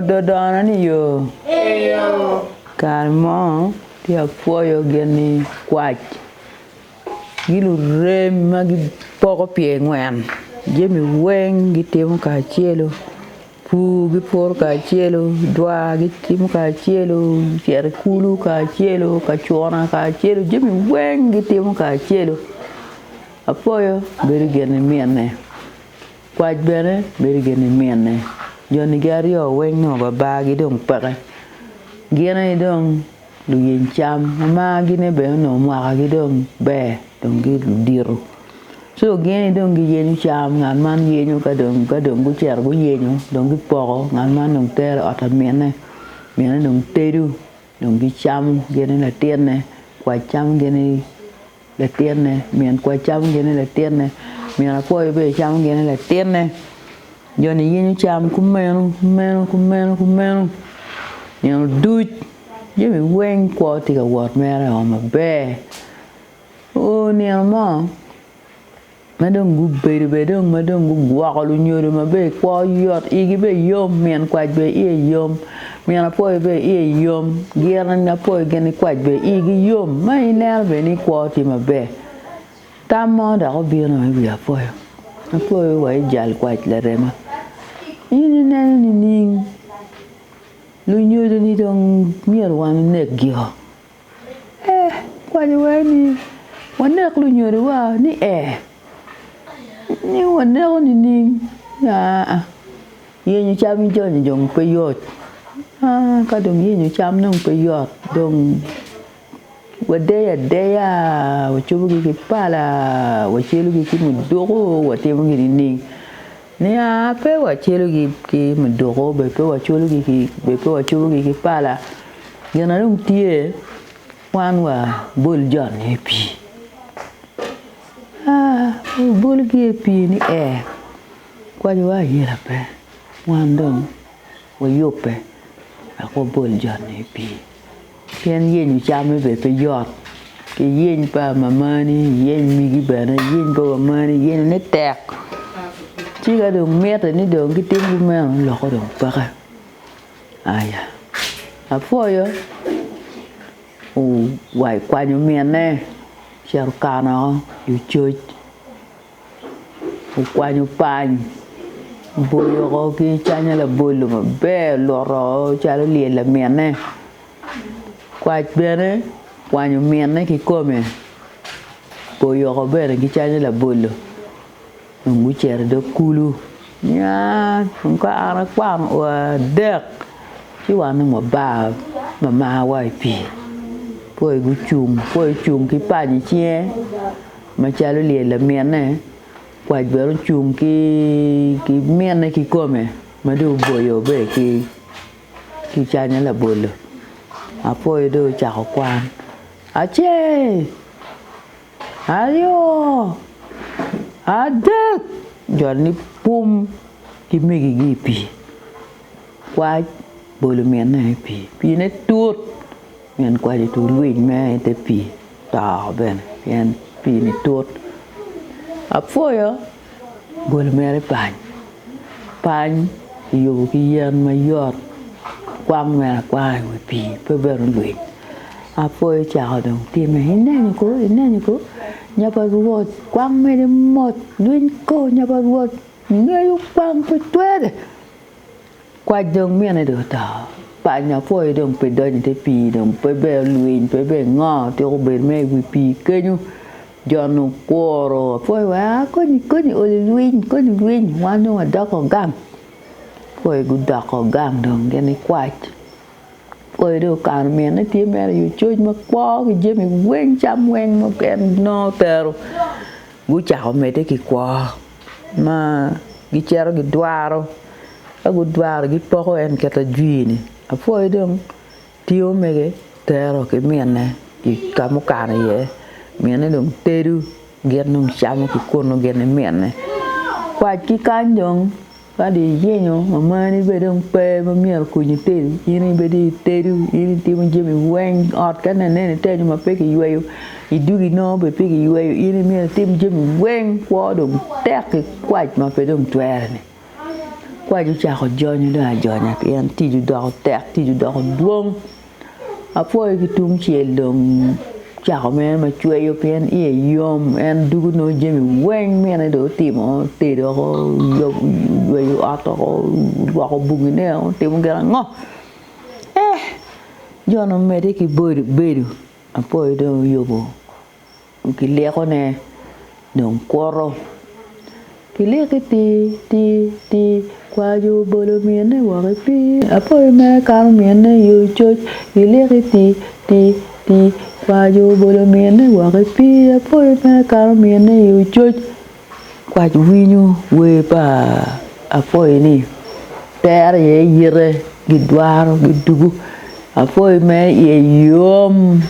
Dodono ni yo. Kare mo tye apwoyo gin ni kwac gi lurem ma gipoko pye ngwen jami weng gitimo kacelu pur gi puro kacelu dwa gi timo kacelu cito i kulu kacelu kacuna kacelu jami weng gitimo kacelu apwoyo bedo gin ni mine. Kwac bene bedo gin ni minne. Jonigi aryo weng nongo babar gi dong peke. Gin aye dong luyiny cam ma mar gi ne bene onongo mwaka gi dong ber dong gi ludito. Co gin aye dong gi yenyo cam ngat man yenyo ka dong ka dong gucito guyenyo dong gi poko ngat man dong tero i ot pa minne. Minne dong tedo dong gi camo gin ni latinne kwac camo gin ni. Latinne, min kwai camo gin ni latinne, min akwo ibedo camo gin ni latinne, joni yenyo cam kumeno, kumeno, kumeno, kumeno, nino duc jami weng kwo tye ka wot mere o maber, oo nino mo ma dong gubedo bene dong ma dong gugwoko lunyodo maber kwo yot igi bene yom min kwac bene iye yom min apoyo bene iye yom gin apoyo gin nikwac bene igi yom ma ineno bene ni kwo tye maber tam mo dok obino i wi apoyo, apoyo wa ijal kwac larema in ineno nining lunyodoni dong myero wan onekgio Ee, kwayo aye ni wanek lunyodowa ni ee, nyo waneko nining? Aa, yenyo cam ni joni dong pe yot. Aa, ka dong yenyo cam dong pe yot, dong wadeyo adeya, wacobogi ki pala, wacelogi ki muduku, watimo gin nining? Nia pe wacelogi ki muduku bed pe wacwalogi ki bed pe wacubogi ki pala, gin ma dong tye wan wabol jo-ni i pii. Wabolgi i pii ni ee kwacowa ayela pe wan dong wayubbe wek wabol jo-ni i pii. Pien yenyo camme bene pe yot, iyeny pa mamani, iyeny migi bene, iyeny pa wamani, yenyone tek. Ci ka dong mitte ni dong gitimgi meno, loko dong peke. Aya, apwoyo. Owa kwanyo minne, ocito okano oko i ococ. okwanyo pany oboyo woko ki canya labolo maber oluto woko calo olyelo lamine kwac bene okwanyo mine kikome oboyo woko bene ki canya labolo dong gucito idog kulu nya dong ka an akwano oo adek ci wan dong wabar wamar wa i pii koro gucung kong ki pany icinge. Macalo lyel a minne, kwac bene ocung ki minne kikome ma dong oboyo bene ki ki canya labolo. Apoyo dong ocako kwan, Acel, aryo, adek, jo ni pum ki megi-gi i pii. Kwac bolo minne i pii, piine tut. Min kwaco tur lwiny me i te pii to bene pien pii ni tut. Apwoyo goli mere pany. Pany ki yubu ki yen ma yot kwang mere akwanga i wi pii pe bene lwiny. Apwoyo cako dong time i nenyo ko i nenyo ko nya pa Rwot kwang mene mot lwiny ko nya pa Rwot ngeyo kwang pe twere. Kwac dong mine dong oto. Panyo apwoyo dong pe donyo ite pii dong pe ber olwiny pe ber ngo tuko obedo mere iwi pii kenyo jon okworo apwoyo wee aa koni koni ol ilwiny koni ilwiny wan dong wadoko gang apwoyo gudoko gang dong gin gikwac. Oyo dong okano mine tye mere i ococ makwo ki jami weng cam weng ma en nongo tero gucako medde ki kwo ma gicito gidwaro ka gudwaro gipoko en kit ajwir-ni apwoyo dong tye omege tero ki mine i ka ma okano iye mine dong tedo gin dong camo ki kunu gin ni mine kwac ki kany dong Kadi iyenyo ma marni bene dong pe ma myero okony itedi, in aye ibedo itedo, in itimo jami weng, ot kadi nene ni ter nyo ma pe kiyweyo idwogo inongo bene pe kiyweyo in aye myero itim jami weng kwo dong tek ki kwac ma pe dong twere-ni. Kwac ocako jonyo dong ajonya pien tic odoko tek, tic odoko dwong. Apwoyo ki tungcel dong cako mere macweyo pien iye yom en dugo nongo jami weng mine dong otimo otedo woko oyweyo ot woko olwoko bogine woko otimo gin ango jo ni omedde ki bedo apwoyo dong oyubo. Gilyekone dong kwoto. Gilyeki ti, ti, ti, kwajo obolo mine woko i pii. Apoyo mere kato mine i ococ. Gilyeki ti, ti, ti, kwajo obolo mine woko i pii. Apoyo mere kato mine i ococ. Kwac winyo wer pa Apoyi ni Tero aye yite gidwaro gidugu Apoyi mere iye yom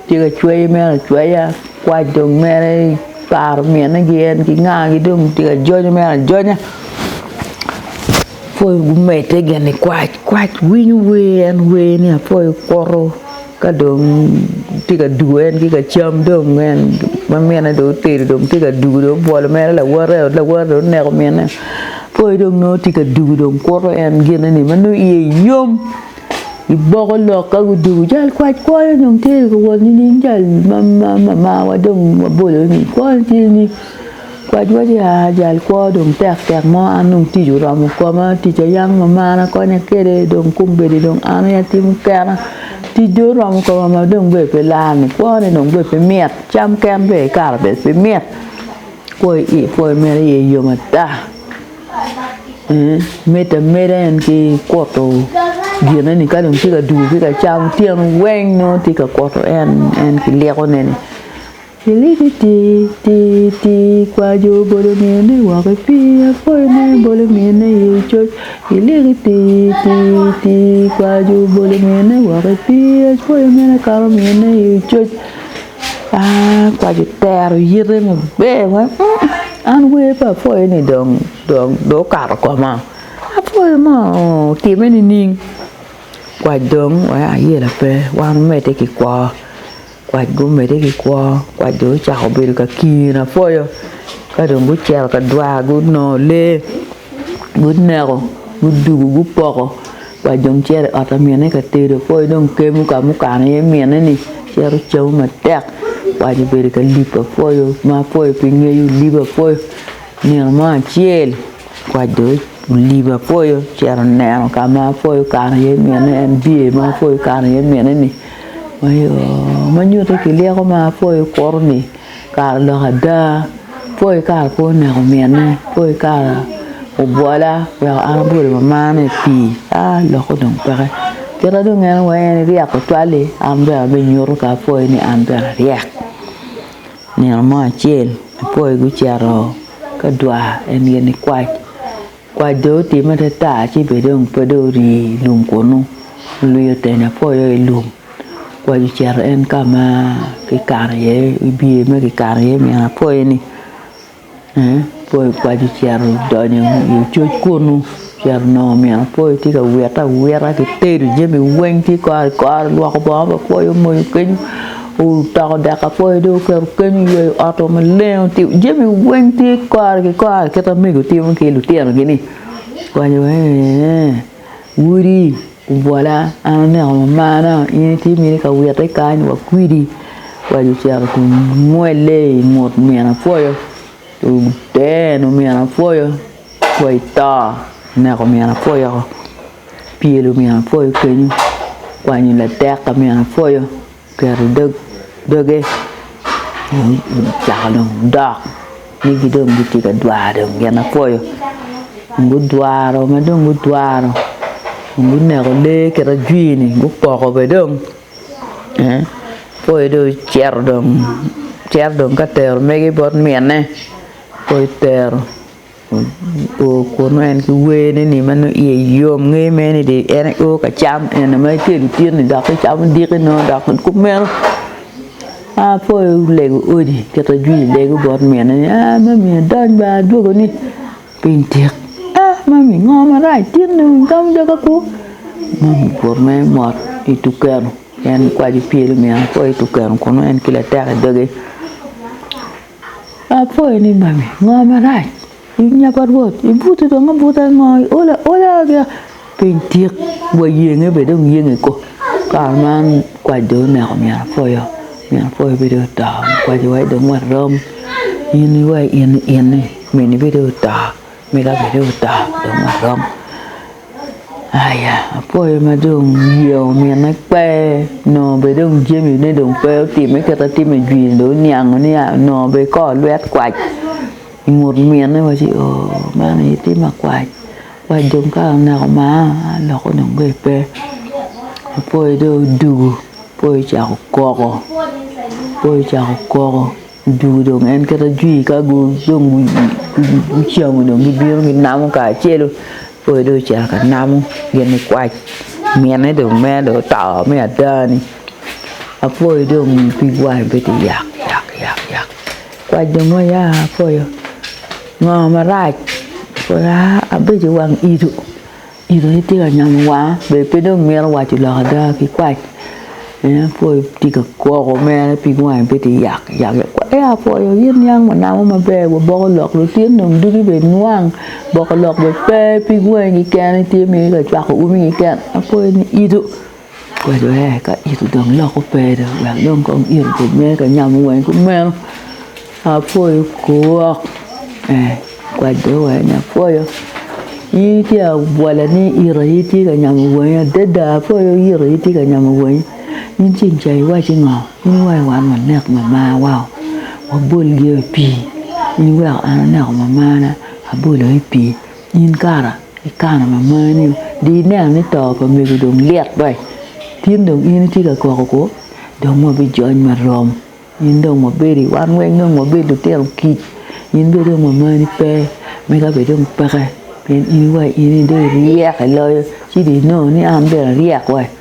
tye ka cweyo mere acweya kwac dong mere paro mine gi en ki nga gi dong tye ka jonyo mere ajonya Apoyi gumedde gin ni kwac winyo wer en wer ni Apoyi okuto Ka dong tye ka dugo en ki ka cam dong en ma minne dong otedo dong tye ka dugo dong obwolo mere lawote i ot lawote dong oneko minne poi dong nongo tye ka dugo dong kuto en gine ni ma nongo iye yom iboko lok ka gudugo jal kwac kwonyo dong tye ka wot nining jal ma mamawa dong wabolo-ni kwonyo tye ni Kwajwa Jehaa jal kwo dong tek tek mo an dong tic oromo koma, tic aye yam ma mar akonya kwede dong kombeddi dong an aye atimo kena, tic dong oromo koma ma dong bene pe lani kwone dong bene pe mit cam ken bene ikato bene pe mit kwo i kwo i meno iye yom ata miti ameda en ki kuto gineni ka dong tye ka dwogo ki ka cam otyeno weng nongo tye ka kuto en ki likone ni. Iliki ti ti ti kwajo bolo mine wok i pii apwoyone bolo mine i coc Iliki ti ti ti kwajo bolo mine wok i pii apwoyo mene akato mine i coc Aa kwajo tero yite maber wa An wer pa apwoyo ni dong dong dong okato koma apwoyo ma otime nining kwac dong wek ayela pe wan omedde ki kwo. Kwac gumedde ki kwo, kwac dong ocako bedo ka kiyo na pwoyo ka dong gucito ka dwa gunongo lee guneko gudugu gupoko kwac dong cito i ot pa mine ka tedo poi dong kemo ka mukano iye mine-ni cito camo matek kwac obedo ka lipo pwoyo ma pwoyo pe ngeyo lipo pwoyo nino mo acel kwac dong olibo pwoyo ocito neno ka ma pwoyo kano iye mine en biye ma pwoyo kano iye mine-ni. ma nyuto ki lyeko ma pol kuro ni kare odok ada pol kare pe oneko mine pol kare obwola weko an abwolo mamana i pii aa lokke dong peke kite dong en weko en iryek tutwal-li an bene abinyuto ka apwoyo ni an bene aryek nino mo acel apwoyi gucito ka dwar en gin nikwac Kwac dong otimme atata ci bene dong pe dong ori i lum kunnu, olwio otene apoyo i lum. Kwac ocito en ka ma kikano iye, i biye ma kikano iye nino apoyo-ni ee apoyo kwac ocito odonyo i ococ kunnu ocito nongo nino apoyo tye ka wite awita kitedo jami weng tye kore kore, olwoko bongo pa apoyo omoyo kenyo Otoko dek apoyo dong oketo keny oyweyo ot o maleng otimo jami weng tye kore ki kore kit amego timo ki lutino gi ni kwanyo eeh Wodi obwola an aneko mamana in itye mini ka wite kany wa kwidi kwanyo ocito ki mwelle i ngut min apoyo oteno min apoyo apoyo to oneko min apoyo oko pyelo min apoyo kenyo kwanyo ladek pa min apoyo. oketo i dog doge ocako dong dok nyig dong gitye ka dwaro dong gin mapwoyo dong gudwaro ma dong gudwaro dong guneko lee kit ajwir-ni gupoko bene dong pwoyo dong ocito dong cito dong ka tero mege bot minne pwoyo tero. oo kunu en ki wene ni ma nongo iye yom nge mere ni dong en aye oo ka cam eni ma itye i lutit ni dok icamo diki nongo dok kumeno a pe olego odi kita jwi lego bot mine ni aa mami adony bene adwogo ni piny tek a mami ngo marac tin dong icamo dogi apu mami obuto mere mot ituku keno en kwaco pyelo myero akwo ituku keno kunu en ki latek i doge. Apwoyo ni mami, ngo marac i nya pa Rwot? Ibuto dong abuta i ngo? Iolo aola gia piny tik wa yenge bene dong yenge ko. Kare man kwac dong oneko min apwoyo, min apwoyo bene dong oto, kwac iwaci dong warom in iwa in i in ni mini bene dong oto. Myero abed oda dong arom aya apwoyo ma dong ye omine pe nongo bene dong jamine dong pe otime kit ma timo i jwiri dong oniango ni aa nongo bene i kor lwet kwac i ngut mine waci ooh man aye tim ma kwac, kwac dong ka oneko maa aloko dong ka pe apwoyo dong odugu apwoyo ocako koko apwoyo ocako koko. Odwogo dong en kit ajwi ka dong gucamo dong gibino ginamo kacelu pol dong ocito ka namo gin nikwac mine dong mere dong oto me adani Apoyo dong omiyo pig wange bedo yak yak yak yak kwac dong oya Apoyo ngo marac Apoyo aa abedo i wang ito Tito ni tye ka nyomo wanga be pe dong mito waco lok ada ki kwac pien apwoyo tye ka gwoko mere pig wange pe tye yak yak yak kwai ee apwoyo in niang wanamo maber waboko lok lutino dong dugi be inwang boko lok be pe pig wangi keken itye mere ka cwako umi keken apwoyo ni ito. kwedo aye ka it odong loko kwede wek dong kong it obed mere ka nyamo weny ki meno apwoyo kwok kwede weny ni apwoyo in tye abwola ni it aye itye ka nyamo weny adada apwoyo it aye itye ka nyamo weny in ci inca iwaci ngo in iwaci wan wanek mama wa wabol gi o i pii in iweko an aneko mamana abolo i pii. In kara ikano ma mani-o di ineno ni to pa mego dong lit be. Tin dong in itye ka kok oku, dong wabijony ma rom. In dong wabedi, wan weng dong wabed lutino kic. In bene dong wa mani pe, mega bene dong peke. Pien in iwaco in ni dong iryek iloyo, ci dong inongo ni an bene aryek we?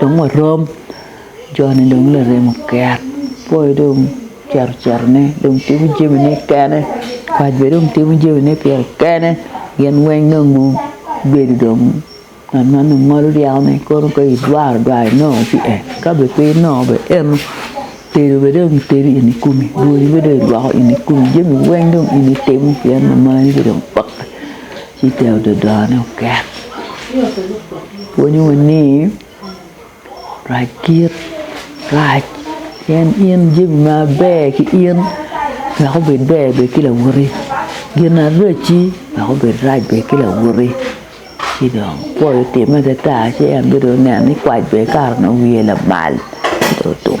Dong warom, joni dong larem oket, poi dong ocito citone dong timo jamine kene, kwac bene dong timo jamine pire kene, gin weng dong gubedo dong ngat ma dong ngolo ryekone kono ka idwaro dwar inongo tye en, ka bene pe inongo bene eno, tedo bene dong itedo in ikumi, rwodi bene dong irwako in ikumi, jami weng dong in itimo pien lamani bene dong pokke. ci tyen ododone oket pwonyowa ni rac kit rac pien in jami maber ki in wek obed ber bed ki lawote gin maracci wek obed rac bed ki lawote ci dong pol otime adada ci en bene dong oneno ni kwac bene kare onongo wiye lamal ci dong otum.